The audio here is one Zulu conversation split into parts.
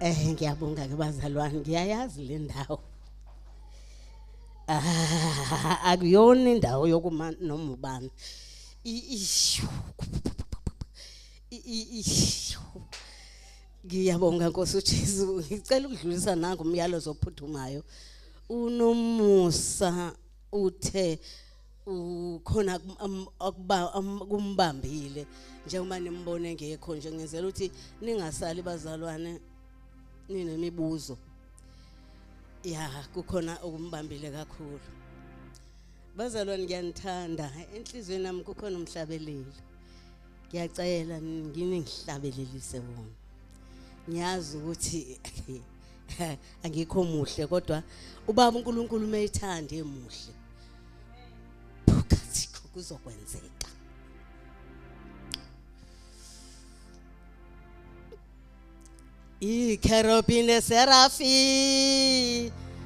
Eh ngiyabonga ke bazalwane ngiyayazi le ndawo. Ah akuyona indawo yokuma noma ubani. Ishu. Ishu. Ngiyabonga Nkosi uJesu ngicela ukudlulisa nangu umyalezo ophuthumayo. Unomusa uthe ukhona kumbambile njengoba nimbona engekho nje ngenzela ukuthi ningasali bazalwane ninemibuzo ya kukhona okumbambile kakhulu bazalwane ngiyanithanda enhliziyweni nami kukhona umhlabeleli ngiyacela ngini ngihlabelelise wona ngiyazi ukuthi angikho muhle kodwa ubaba uNkulunkulu umeyithanda emuhle phakathi kuzokwenzeka ikherobhi neserafi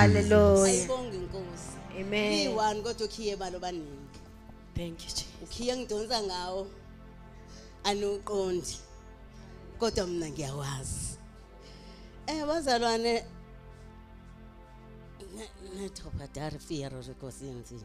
Hallelujah. Ayibonga inkosi. Amen. Iyiwani kodwa ukhiye balo baningi. Thank you Jesus. Ukhiye ngidonsa ngawo. Anuqondi. Kodwa mina ngiyawazi. Eh bazalwane Nethopha darifiyaro rikosini.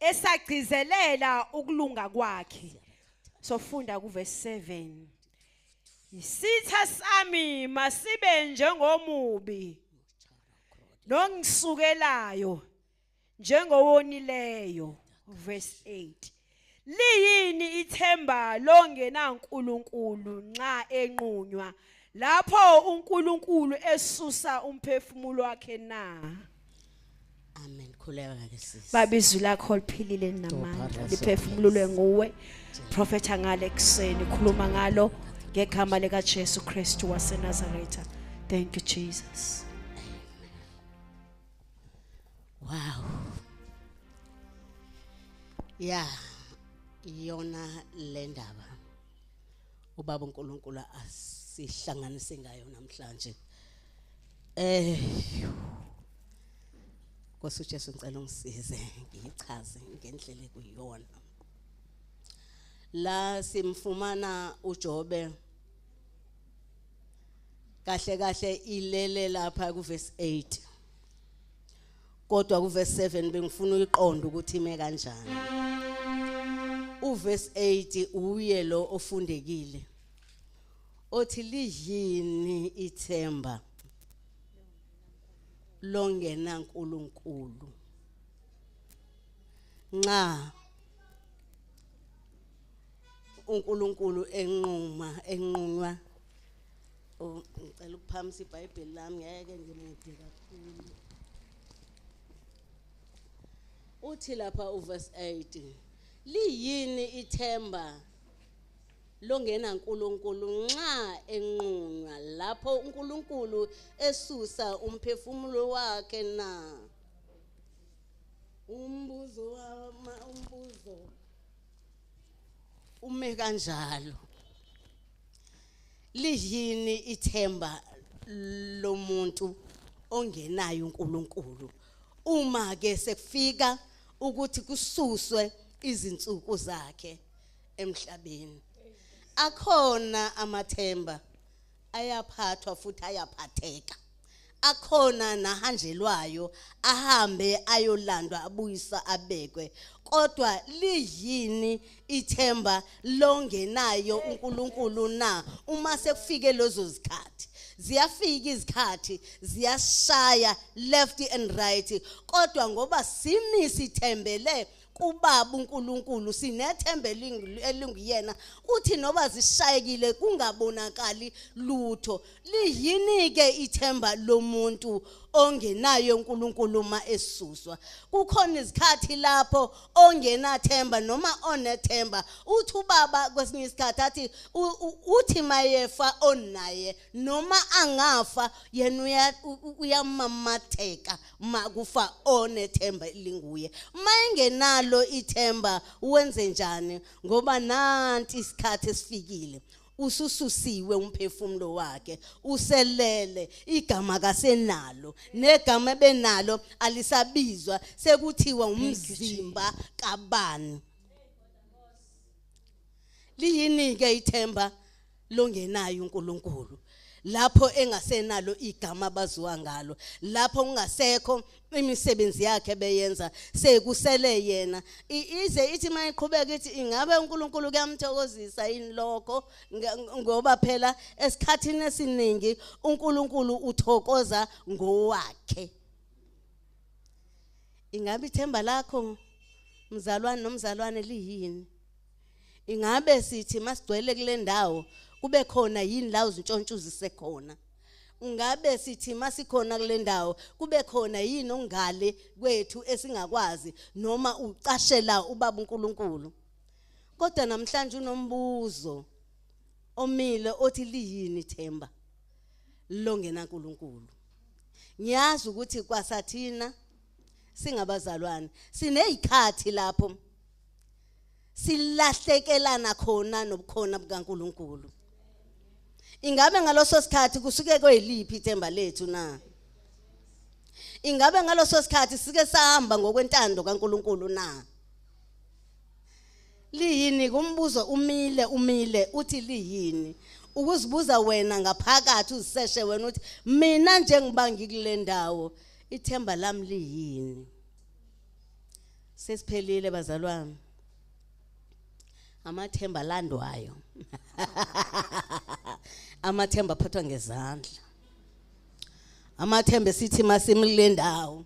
esagcizelela ukulunga kwakhe sofunda kuvese 7 isitha sami masibe njengomubi nongisukelayo njengowonileyo verse 8 Liyini ithemba longenaNkulunkulu nxa enqunywa lapho uNkulunkulu esusa umphefumulo wakhe na? Amen. Khuleka ke sisi. Babizwi lakho liphilile namandla liphefumululwe nguwe. Prophet angale kuseni khuluma ngalo ngegama lika Jesu Kristu waseNazaretha. Thank you Jesus. Wow. Yeah. Iyona le ndaba. Ubaba uNkulunkulu asihlanganise ngayo namhlanje. Eh Nkosi uJesu ngicela ungisize ngichaze ngendlela kuyona. La simfumana uJobe kahle kahle ilele lapha kuverse 8 kodwa kuverse 7 bengifuna uyiqonda ukuthi ime kanjani uverse 8 uye lo ofundekile othi liyini ithemba longena uNkulunkulu nxa uNkulunkulu enquma enqunywa oh, ngicela ukuphamisa iBhayibheli lami ngeke ngimude kakhulu uthi lapha uverse 8 liyini ithemba longena uNkulunkulu nxa enqunywa lapho uNkulunkulu esusa umphefumulo wakhe na umbuzo wama umbuzo ume kanjalo liyini ithemba lomuntu ongenayo uNkulunkulu uma ke sekufika ukuthi kususwe izinsuku zakhe emhlabeni akhona amathemba ayaphathwa futhi ayaphatheka akhona nahanjelwayo ahambe ayolandwa abuyisa abekwe kodwa liyini ithemba longenayo uNkulunkulu na uma sekufike lezo zikhathi ziyafika izikhathi ziyashaya left and right kodwa ngoba simi sithembele kubaba uNkulunkulu sinethemba elinguyena uthi noba zishayekile kungabonakali lutho liyini ke ithemba lomuntu ongenayo uNkulunkulu uma esuswa kukhona izikhathi lapho ongenathemba noma onethemba uthi ubaba kwesinye isikhathi athi uthi mayefa onaye noma angafa yena uyamamatheka uma kufa onethemba elinguye uma engenalo ithemba wenze njani ngoba nanti isikhathi esifikile usususiwe umphefumulo wakhe uselele igama kasenalo negama ebenalo alisabizwa sekuthiwa umzimba kabani liyini ke ithemba longenayo uNkulunkulu lapho engasenalo igama abaziwa ngalo lapho kungasekho imisebenzi yakhe beyenza sekusele yena ize ithi mayiqhubeka ithi ingabe uNkulunkulu kuyamthokozisa yini lokho ngoba phela esikhathini esiningi uNkulunkulu uthokoza ngowakhe ingabe ithemba lakho mzalwane nomzalwane liyini ingabe sithi masigcwele kule ndawo kube khona yini la uzintshontsha uzisekhona ungabe sithi masikhona kule ndawo kube khona yini ongale kwethu esingakwazi noma ucashela ubaba uNkulunkulu kodwa namhlanje unombuzo omile othi liyini ithemba longena uNkulunkulu ngiyazi ukuthi kwasathina singabazalwane sinezikhathi lapho silahlekelana khona nobukhona bukaNkuluNkulu ingabe ngaloso sikhathi kusuke kweliphi ithemba lethu na ingabe ngaloso sikhathi sike sahamba ngokwentando kaNkuluNkulu na liyini kumbuzo umile umile uthi liyini ukuzibuza wena ngaphakathi uziseshe wena uthi mina njengiba ngikule ndawo ithemba lami liyini sesiphelile bazalwane amathemba alandwayo amathemba aphathwa ngezandla amathemba esithi masimlindawo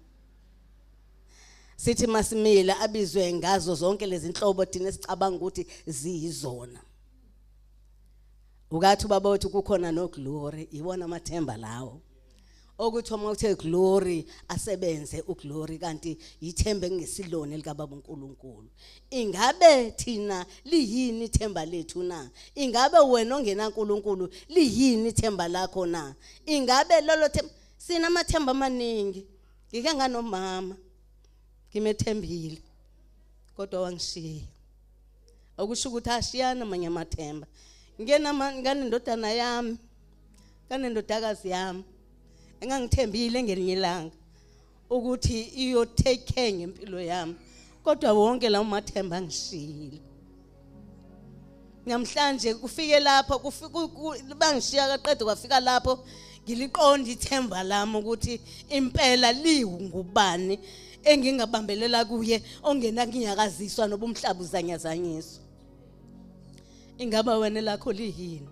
sithi masimile abizwe ngazo zonke lezi nhlobo thina sicabanga ukuthi ziyizona ukathi ubaba wethu kukhona noglory iwona amathemba lawo okuthi uma uthe glory asebenze uglory kanti yithemba engesilona likababa uNkulunkulu ingabe thina liyini ithemba lethu na ingabe wena ongena uNkulunkulu liyini ithemba lakho na ingabe lolo themba sina amathemba amaningi ngike nganomama ngimethembile kodwa wangishiya okusho ukuthi ashiyana amanye amathemba ngenama nganendodana yami kanendodakazi yami engangithembile ngelinye ilanga ukuthi iyotake care ngempilo yami kodwa wonke lawo mathemba angishiyile namhlanje kufike lapho bangishiya kaqede kwafika lapho ngiliqonda ithemba lami ukuthi impela liwungubani engingabambelela kuye ongena nginyakaziswa nobumhlaba uzanyazanyiswa ingaba wena lakho liyini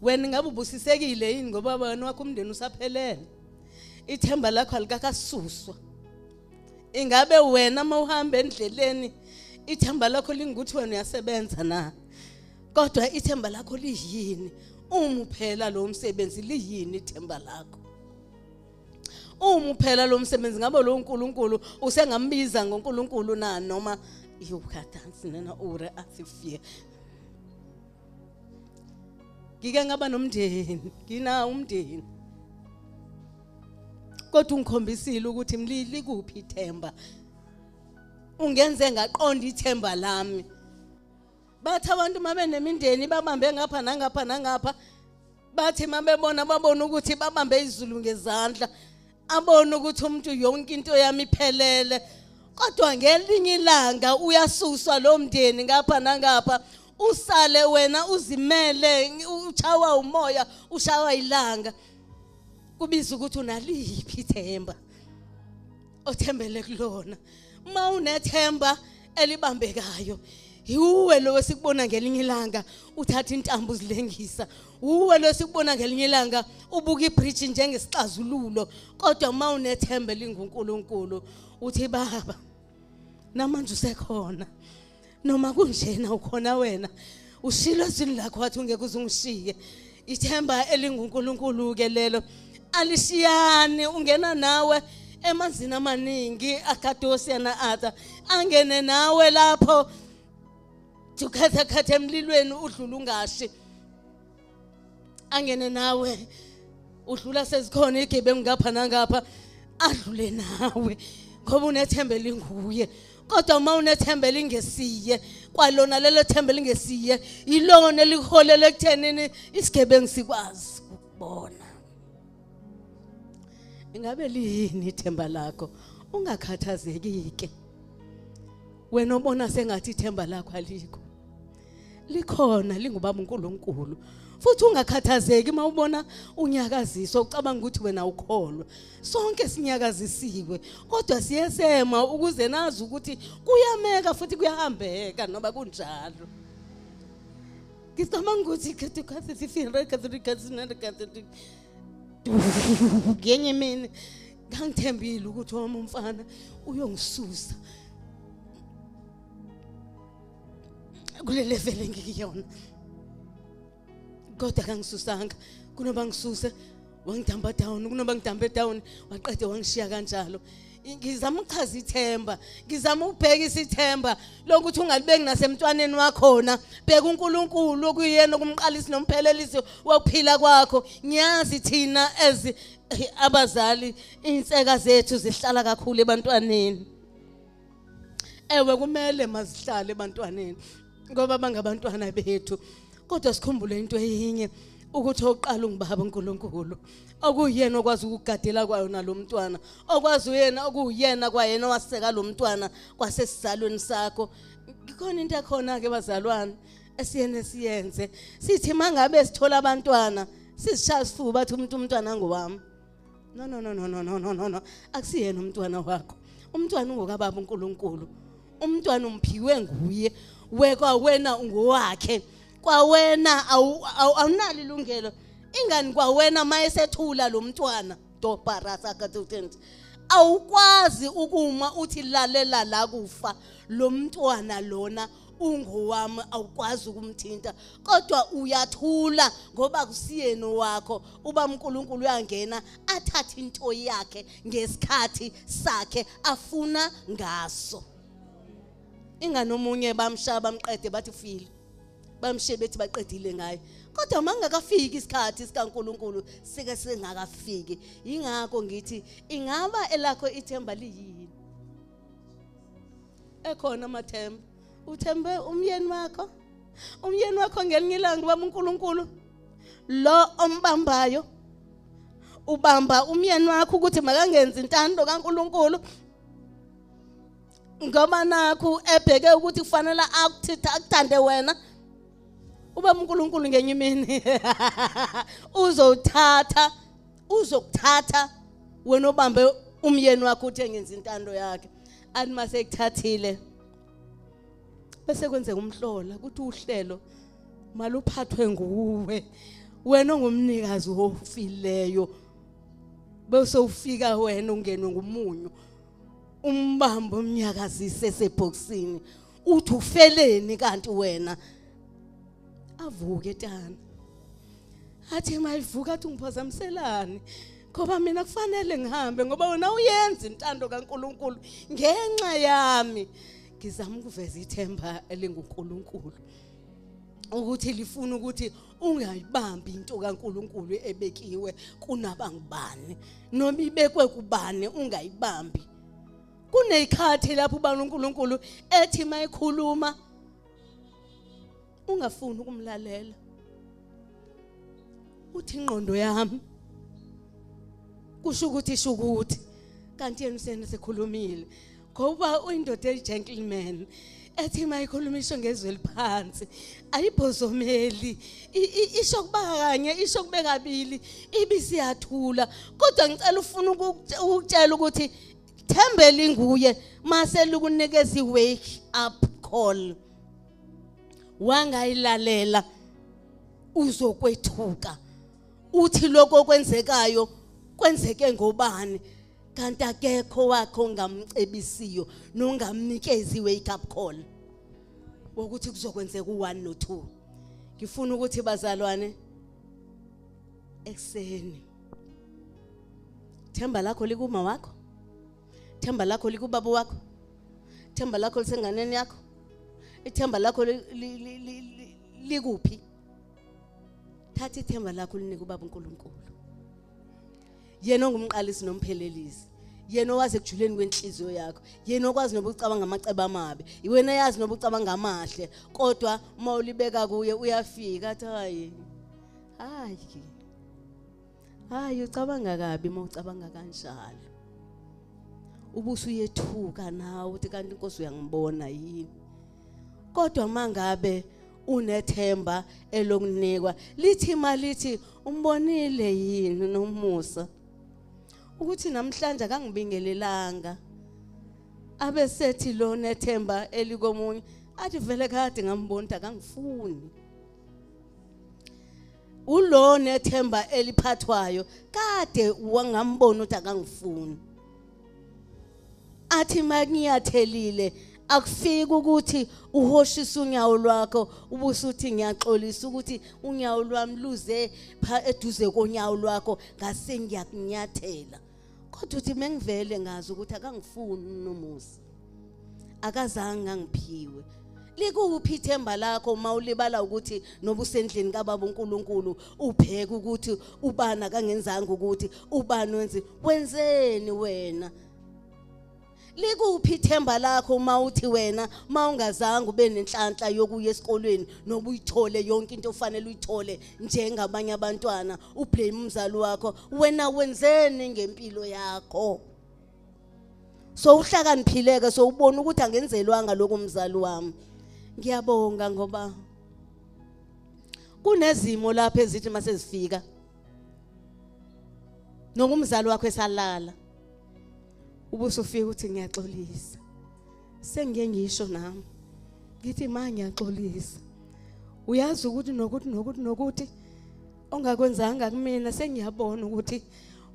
wena ingabe ubusisekile yini ngoba wena wakho umndeni usaphelele ithemba lakho alikakasuswa ingabe wena uma uhamba endleleni ithemba lakho lingukuthi wena uyasebenza na kodwa ithemba lakho liyini uma uphela lo msebenzi liyini ithemba lakho uma uphela lo msebenzi ngabe lo nkulunkulu usengambiza ngonkulunkulu na noma iwukhadansi nena ure athi fear ngike ngaba nomndeni ngina umndeni kodwa ungikhombisile ukuthi mlili kuphi ithemba ungenze ngaqonda ithemba lami bathi abantu uma benemindeni babambe ngapha nangapha nangapha bathi mabebona babona ukuthi babambe izulu ngezandla abona ukuthi umuntu yonke into yami iphelele kodwa ngelinye ilanga uyasuswa lo mndeni ngapha nangapha usale wena uzimele uchawa umoya ushawa ilanga kubiza ukuthi unaliphi ithemba othembele kulona uma unethemba elibambekayo yiwe lo esikubona ngelinye ilanga uthatha intambo uzilengisa wuwe lo esikubona ngelinye ilanga ubuka ibridge njengesixazululo kodwa uma unethemba elingunkulunkulu uthi baba namanje usekhona noma kunjena ukhona wena ushilo ezwini lakho wathi ungeke uze ungishiye ithemba elingunkulunkulu ke lelo alishiyani ungena nawe emanzini amaningi akadosia na ada angene nawe lapho tukhatha khatha emlilweni udlula ungashi angene nawe udlula sezikhona igebengu ngapha nangapha adlule nawe ngoba unethemba elinguye kodwa uma unethemba elingesiye kwalona lelo themba elingesiye yilona eliholele ekuthenini isigebengu sikwazi ukubona ingabe liyini ithemba lakho ungakhathazeki ke wena obona sengathi ithemba lakho alikho likhona lingubaba uNkulunkulu futhi ungakhathazeki uma ubona unyakaziswa ucabanga ukuthi wena ukholwa sonke sinyakazisiwe kodwa siyesema ukuze nazi ukuthi kuyameka futhi kuyahambeka noba kunjalo ngicabanga ukuthi khathikhathi sifire khathikhathi ngenye imini ngangithembile ukuthi wami umfana uyongisusa kule level engikuyona kodwa kangisusanga kunoba ngisuse wangidamba down kunoba ngidambe down waqede wangishiya kanjalo ngizama ukuchaza ithemba ngizama ukubhekisa ithemba lokuthi ungalibeki nasemntwaneni wakhona bheka uNkulunkulu okuyena okumqalisi nomphelelisi wokuphila kwakho ngiyazi thina as abazali inseka zethu zihlala kakhulu ebantwaneni ewe kumele mazihlale ebantwaneni ngoba bangabantwana bethu kodwa sikhumbule into eyinye ukuthi oqala ungibaba uNkulunkulu okuyena okwazi ukugadela kwayo nalomntwana okwazi uyena okuyena kwayena waseka lomntwana kwasesizalweni sakho ikhona into ekhona ke bazalwane esiyene siyenze sithi mangabe sithola abantwana sizishaya sifuba bathi umuntu umntwana ngowami no no no no no no no no no akusiyena umntwana wakho umntwana ungokababa uNkulunkulu umntwana umphiwe nguye wekwa wena ungowakhe kwawena awunalo ilungelo ingani kwawena mayesethula lo mntwana dobarasa katutens awukwazi ukuma uthi lalela la kufa lo mntwana lona ungowami awukwazi ukumthinta kodwa uyathula ngoba kusiyeni wakho uba uNkulunkulu uyangena athathe into yakhe ngesikhathi sakhe afuna ngaso ingane omunye bamshaya bamqede bathi file bamshiye bethi baqedile ngaye kodwa mangakafiki isikhathi sikaNkuluNkulu sike singakafiki ingakho ngithi ingaba elakho ithemba liyini ekhona amathemba uthembe umyeni wakho umyeni wakho ngelinye ilanga ubaba uNkulunkulu lo ombambayo ubamba umyeni wakho ukuthi makangenzi intando kaNkulunkulu ngoba nakho ebheke ukuthi kufanele akuthitha akuthande wena uba uNkulunkulu ngenye imini uzothatha uzokuthatha wena obambe umyeni wakho uthi engenza intando yakhe athi mase ekuthathile bese kwenzeka umhlola ukuthi uhlelo maluphathwe nguwe wena ongumnikazi ofileyo bese ufika wena ungenwe ngumunyu umbambo umnyakazise esebhoksini uthi ufeleni kanti wena avuke tana athi mayivuka athi ngiphazamiselani ngoba mina kufanele ngihambe ngoba wena uyenza intando kaNkuluNkulu ngenxa yami ngizama ukuveza ithemba elinguNkuluNkulu ukuthi lifuna ukuthi ungayibambi into kaNkuluNkulu ebekiwe kunabangubani noma ibekwe kubani ungayibambi kuneyikhathi lapho ubani uNkulunkulu ethi mayikhuluma ungafuni ukumlalela uthi ingqondo yami kusho ukuthi isho ukuthi kanti yena usena sekhulumile ngoba uyindoda eyi-gentleman ethi uma ikhuluma isho ngezwi eliphansi ayibhozomeli isho kuba kanye isho kube kabili ibisiyathula kodwa ngicela ufuna ukutshela ukuthi thembeli nguye mase lukunikeza iwake up call wangayilalela uzokwethuka uthi lokho okwenzekayo kwenzeke ngobani kanti akekho wakho ongamcebisiyo nongamnikezi wake up call wokuthi kuzokwenzeka u1 no2 ngifuna ukuthi bazalwane ekuseni themba lakho likuma wakho themba lakho likubaba wakho themba lakho lisenganeni yakho ithemba lakho likuphi thatha ithemba lakho linike ubaba uNkulunkulu yena ongumqalisi nomphelelisi yena owazi ekujuleni kwenhliziyo yakho yena okwazi noba ucabanga amaceba amabi iwena yazi noba ucabanga amahle kodwa uma ulibeka kuye uyafika athi hayi hayi hayi ucabanga kabi uma ucabanga kanjalo ubuso uyethuka nawe uthi kanti inkosi uyangibona yini kodwa mangabe unethemba elokunikwa lithi malithi umbonile yini nomusa ukuthi namhlanje akangibingelelanga abe sethi lona ethemba elikomunye athi vele kade ngambona ukuthi akangifuni ulo nethemba eliphathwayo kade wangambona ukuthi akangifuni athi makungiyathelile akufiki ukuthi uhoshisa unyawo lwakho ubusuthi ngiyaxolisa ukuthi unyawo lwami luze eduze konyawo lwakho ngase ngiyakunyathela kodwa uthi mengivele ngazi ukuthi akangifuni nomusa akazange angiphiwe likuphi ithemba lakho uma ulibala ukuthi nobusendlini kababa uNkulunkulu ubheke ukuthi ubani akangenzanga ukuthi ubani wenze wenzeni wena Likuphi ithemba lakho uma uthi wena uma ungazange ube nenhlanhla yokuya esikolweni noba uyithole yonke into ofanele uyithole njengabanye abantwana ublame umzali wakho wena wenzeni ngempilo yakho so uhlakaniphileke so ubona ukuthi angenzelwanga lokho mzali wami ngiyabonga ngoba kunezimo lapho ezithi mase zifika nokumzali wakho esalala ubuso ufika uthi ngiyaxolisa sengiye ngisho nami ngithi ma ngiyaxolisa uyazi ukuthi nokuthi nokuthi nokuthi ongakwenzanga kumina sengiyabona ukuthi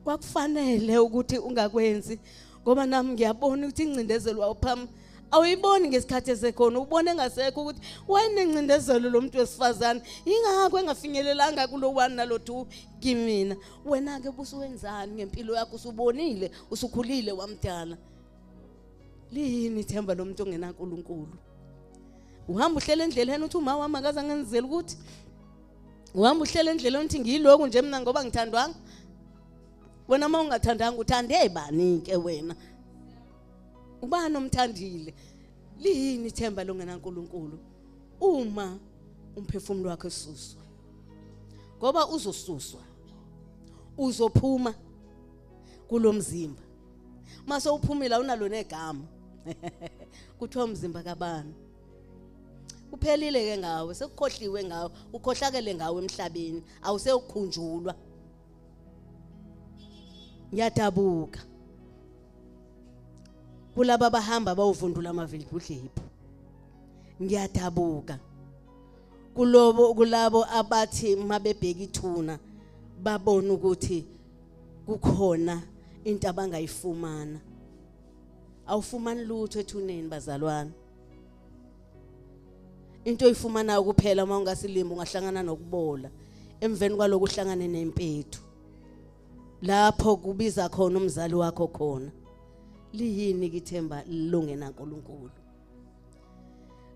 kwakufanele ukuthi ungakwenzi ngoba nami ngiyabona ukuthi ingcindezelo wawupham awuyiboni ngesikhathi esekhona ubone ngasekho ukuthi wayenengcindezelo lo muntu wesifazane yingakho engafinyelelanga kulo one nalo two kimina wena ke busuwenzani ngempilo yakho usubonile usukhulile wamdala liyini ithemba lomuntu ongenaNkulunkulu uhamba uhlela endleleni uthi uma wami akaze angenzele ukuthi uhamba uhlela endleleni uthi ngiyiloku nje mina ngoba ngithandwanga wena uma ungathandanga uthande bani ke wena ubani omthandile liyini ithemba longenaNkulunkulu uma umphefumulo wakhe ususwa ngoba uzosuswa uzophuma kulomzimba mase uphumile awunalo negama kuthiwa umzimba kabani uphelile ke ngawe sekukhohliwe ngawe ukhohlakele ngawe emhlabeni awusewukhunjulwa ngiyadabuka kulaba bahamba bawuvundula amavili kudlephu ngiyadabuka kulobo kulabo abathi mabebheka ithuna babona ukuthi kukhona into abangayifumana awufumani lutho ethuneni bazalwane into oyifumanayo kuphela uma ungasilimba ungahlangana nokubola emveni kwaloko uhlangane nempethu lapho kubiza khona umzali wakho khona liyini kithemba lilungena uNkulunkulu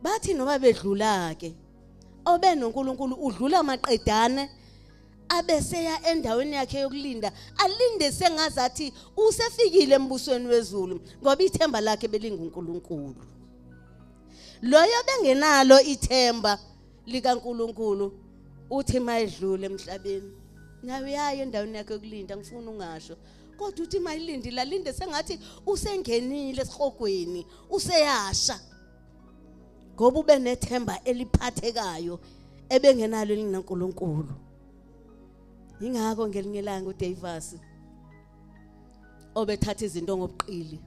bathi noma bedlula ke obe noNkulunkulu udlula maqedane abeseya endaweni yakhe yokulinda alinde sengazi athi usefikile embusweni wezulu ngoba ithemba lakhe belinguNkulunkulu loyo bengenalo ithemba likaNkulunkulu uthi mayedlule emhlabeni nawe uyaye endaweni yakhe yokulinda ngifuna ungasho kodwa uthi mayilindi lalinde sengathi usengenile esihogweni useyasha ngoba ube nethemba eliphathekayo ebengenalo elinaNkulunkulu ingakho ngelinye ilanga uDavis obethatha izinto ngobuqili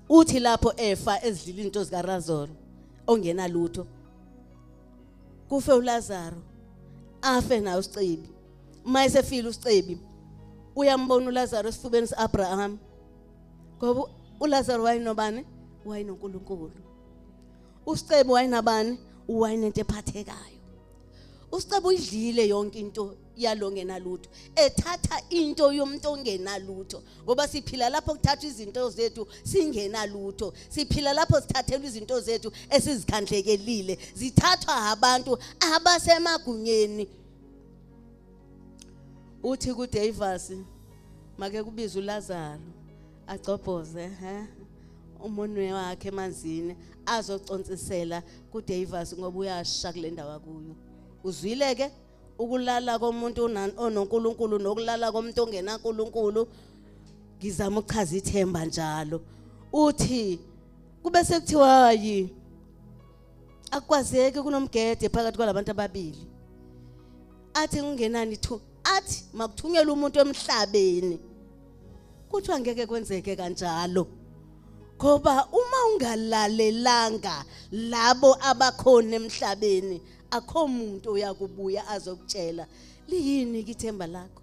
uthi lapho efa ezidlila izinto zikaRazor ongenalutho kufe uLazaro afe nayo uSicebi uma esefile usicebi uyambona uLazaro esifubeni siAbraham ngoba uLazaro wayenobani wayenoNkulunkulu usicebi wayenabani wayenento ephathekayo usicebi uyidlile yonke into yalongena lutho ethatha into yomuntu ongena lutho ngoba siphila lapho kuthathwa izinto zethu singena lutho siphila lapho sithathelwa izinto zethu esizikhandlekelile zithathwa abantu abasemagunyeni uthi kudevasi make kubiza ulazaro agcobhoze he umunwe wakhe emanzini azoconsisela kudevasi ngoba uyasha kule ndawo akuyo uzwile ke ukulala komuntu ononkulunkulu nokulala komuntu ongenankulunkulu ngizama ukuchaza ithemba njalo uthi kube sekuthiwa yi akwazeki kunomgede phakathi kwalabantu ababili athi kungenani thu athi makuthunyelwe umuntu emhlabeni kuthiwa ngeke kwenzeke kanjalo ngoba uma ungalalelanga labo abakhona emhlabeni akho muntu uyakubuya azokutshela liyini kithemba lakho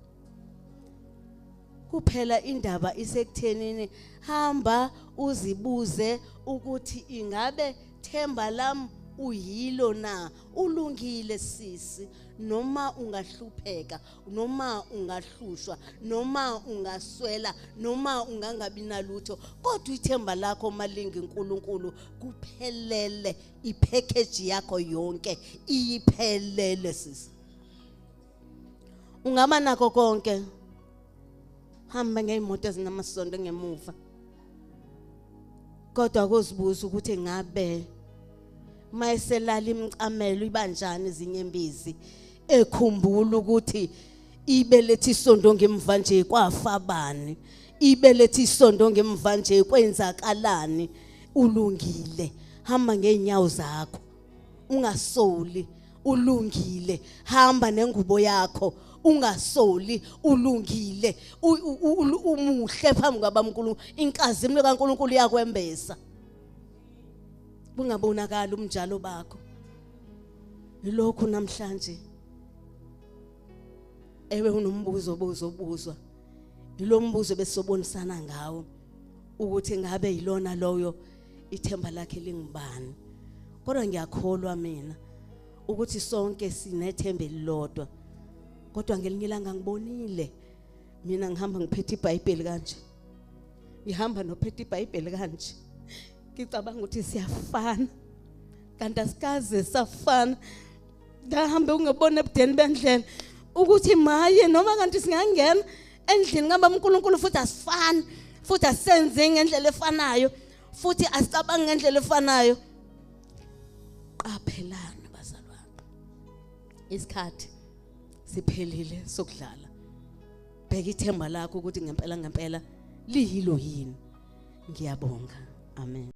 kuphela indaba isekuthenini hamba uzibuze ukuthi ingabe themba lam uyilo na ulungile sisi noma ungahlupheka noma ungahlushwa noma ungaswela noma ungangabi nalutho kodwa ithemba lakho malingi uNkulunkulu kuphelele ipackage yakho yonke iyiphelele sisi ungaba nako konke hamba ngeyimoto ezinamasondo ngemuva kodwa kuzibuza ukuthi ngabe mayeselala imcamelo ibanjani izinyembezi ekhumbula ukuthi ibelethe isondo ngemva nje kwafa bani ibelethe isondo ngemva nje kwenzakalani ulungile hamba ngeenyawo zakho ungasoli ulungile hamba nengubo yakho ungasoli ulungile umuhle phambi kwabaMkulu inkazimulo kaNkuluNkulu iyakwembesa kungabonakala umnjalo bakho lokhu namhlanje ewe unombuzo obuzobuzwa yilombuzo besobonisana ngawo ukuthi ngabe yilona loyo ithemba lakhe lingubani kodwa ngiyakholwa mina ukuthi sonke sinethemba elilodwa kodwa ngelinye ilanga ngibonile mina ngihamba ngiphethe ibhayibheli kanje ngihamba nophethe ibhayibheli kanje ngicabanga ukuthi siyafana kanti asikaze safana ngahambe ungebona ebudeni bendlela ukuthi maye noma kanti singangena endlini kamba uNkulunkulu futhi asifani futhi asenze ngendlela efanayo futhi asicabangi ngendlela efanayo qaphelani bazalwane isikhathi siphelile sokudlala bheka ithemba lakho ukuthi ngempela ngempela liyilo yini ngiyabonga amen